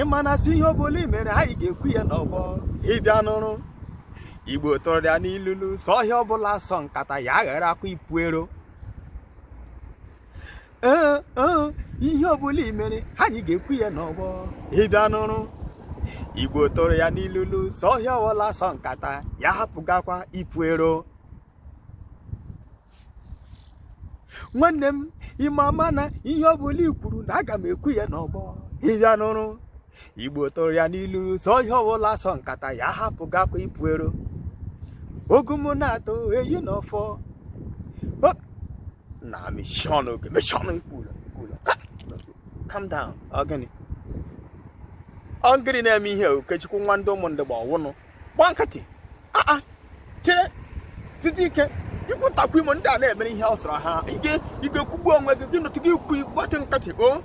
ịma na sị ihe ọbụla i mere anyị ga-ekwu ya n'ọgbọ ịbịa nụrụ igbo tụrụ ya n'ilulu sị ọhịa ọbụla asọ nkata ya agharakwa ipu ero ee ee ihe ọbụla i mere anyị ga-ekwu ya n'ọgbọ ịbịa nụrụ igbo tụrụ ya n'ilulu sị ọhịa ọbụla asọ nkata ya hapụgakwa ipu ero nwanne m ime ama na ihe ọ bụla i kwuru na aga m ekwu ya n'ọgbọ ịbịa nụrụ igbo tụrụ ya n'ilu sị ọhịa ọbụla asọ nkata ya hapụgakwa ipu ero ogu m na-atụ eyi na ọfọ na meshie ọnụ gị meshie ọnụ kwuru kwuru calm down ọ gịnị ọ gịnị na-eme ihe okechukwu nwa ndị ụmụndugba ọwụnụ gba nkịtị aa chere site ike ikwu ntakwu imo ndị a na-emere ihe ọ sọrọ ha ị ga-ekwugbu onwe gị gị nọtụ gị ikwu gbatụ nkịtị o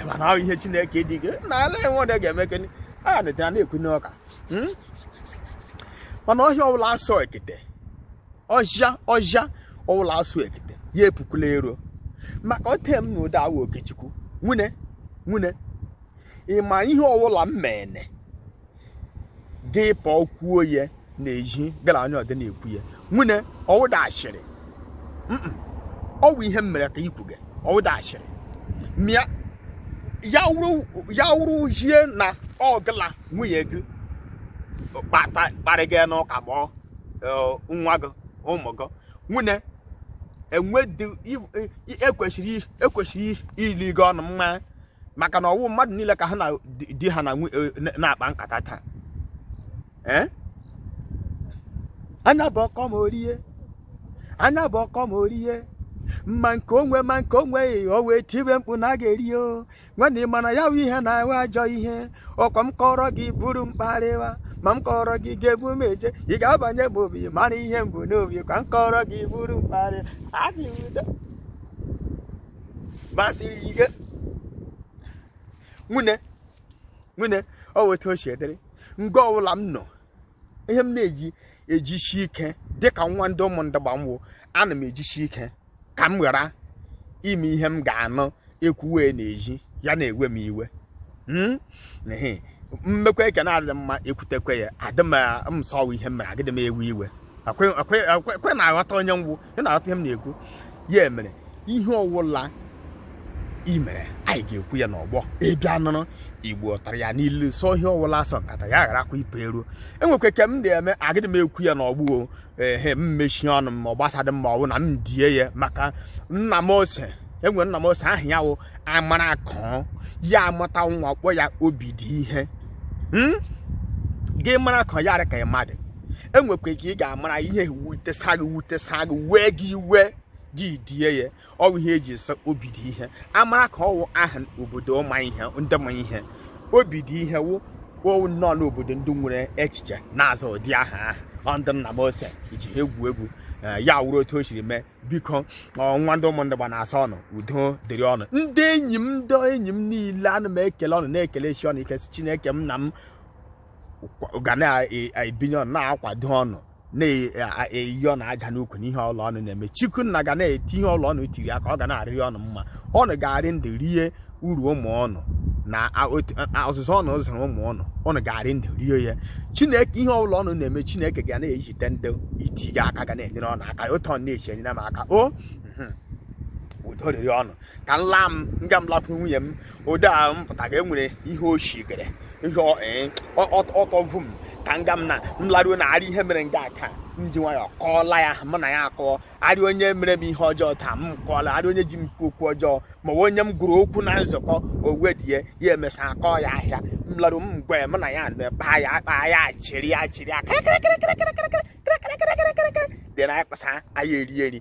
ịma na ahụ ihe chineke dị gị na ala enwedị ga-eme gịnị a na-ete a na-ekwu n'ọka hmm? mana ọhịa ọbụla asọ ekete ọhịa ọbụla asọ ekete ya epukwala ero maka o tee m na ụda awa okechukwu nwune nwune ịma ihe ọbụla m mene gị pụọ kwuo ya n'ezhi gara onye ọdọ na-ekwu ya nwune ọwụdị ashịrị ọwụ ihe m mere ka ikwu gị ọwụdị ashịrị ma ya wụrụ zhie na ọ gị la nwunye gị kparịga n'ụka ma nwa gị ụmụ gị nwune ekwesịrị e, e ili gị ọnụ mma maka na ọwụ mmadụ niile ka ha na di ha e, na-akpa nkata taa eh? anya bụ ọkọ ma orie anya bụ ọkọ ma orie ma nke onwe ma nke onwe o wee tibe mkpu na a ga-eri o nwanne mana ya bụ ihe na-awụ ajọ ihe ọkwa m kọrọ gị buru m kparịwa ma m kọrọ gị ga-ebu m eje ị ga-abanye m obi mara ihe m bu n'obi ka m kọrọ gị buru m kparị adịghị udo basiri ike nwune nwune ọwụ etu o si dịrị nga ọbụla m nọ ihe m na-eji ejishi ike dịka nwa ndị ụmụndugba m wụ ana m ejishi ike ka m ghara ime ihe m ga-anụ e kwuwe n'ezhi ya na-ewe m iwe hmm? m mekwa nke na-adị mma ekwutekwe ya adị m sị ọwụ ihe m mere agịdị m ewe iwe ọkwa ị na-aghọta onye m wụ ị na-aghọta ihe m na-ekwu ya mere ihe ọwụla i mere anyị ga-ekwu ya n'ọgbọ ị bịa nụrụ igbo tara ya n'ilu sọ ihe ọwụla asọ nkata ya gharakwa ipe eruo enwekwa ke m na-eme agịdị m ekwu ya n'ọgbọ ehe m mechie ọnụ m ma ọ gbasadị m ma ọ bụ na m die ya maka nna m ose enwere nna m ose aha ya wụ amara akọ ya amụta nwa kpọ ya obi dị ihe hmm? gị mara akọ ya dị ka mmadụ enwekwa ka ị ga-amara ihe wutesa gị wutesa gị wee gị iwe gị die ya ọwụ ihe eji sọ obi dị ihe amara akọ wụ aha obodo ma ihe ndị ma ihe obi dị ihe wụ owu nnọọ n'obodo ndị nwere echiche na-aza ụdị aha ahụ ndị nna m ose eji ha egwu egwu eh, ya wụrụ otu o siri mee biko nwa ndị ụmụ ndị igbo na-asị ọnụ udo dịrị ọnụ ndị enyi m ndị enyi m niile ana m ekele ọnụ na-ekele chi ọnụ ike chineke m nna m ga na-ebinye ọnụ na-akwado ọnụ na-eyi ọnụ aja n'ụkwụ n'ihe ọwụla ọnụ na-eme chukwu nna ga na-eti ihe ọwụla ọnụ tiri aka ọ ga na-arịrị ọnụ mma ọnụ ga-arị ndụ rie uru ụmụ ọnụ na ọzụzụ ọnụ zụrụ ụmụ ọnụ ọnụ ga-arị ndụ rie ya chineke ihe ọbụla ọnụ na-eme chineke ga na-ejite ndị iti gị aka ga na-enyere ọnụ aka otu ọ na-eshi enyere m aka o udo rịrị ọnụ ka m laa m nga m lakwuru nwunye m ụdị a m pụtaga enwere ihe o shigere ihe ọ- ee, ọ- ọ- ọtọ vu m ka nga m na m laruo na arị ihe mere nga a ka m ji nwayọọ kọọla ya mụ na ya akọọ arị onye mere m ihe ọjọọ taa m kọọla arị onye ji m kwu okwu ọjọọ ma ọ bụ onye m gụrụ okwu na nzukọ owedie ya emesa akọọ ya ahịa m laruo m gwa ya mụ na ya nọ kpaa ya akpa ya chịrị ya chịrị ya kịrịkịrịkịrịkịrịkịrịkịrịkịrịkịrịkịrịkịrị then anyị kpasa anyị erie eri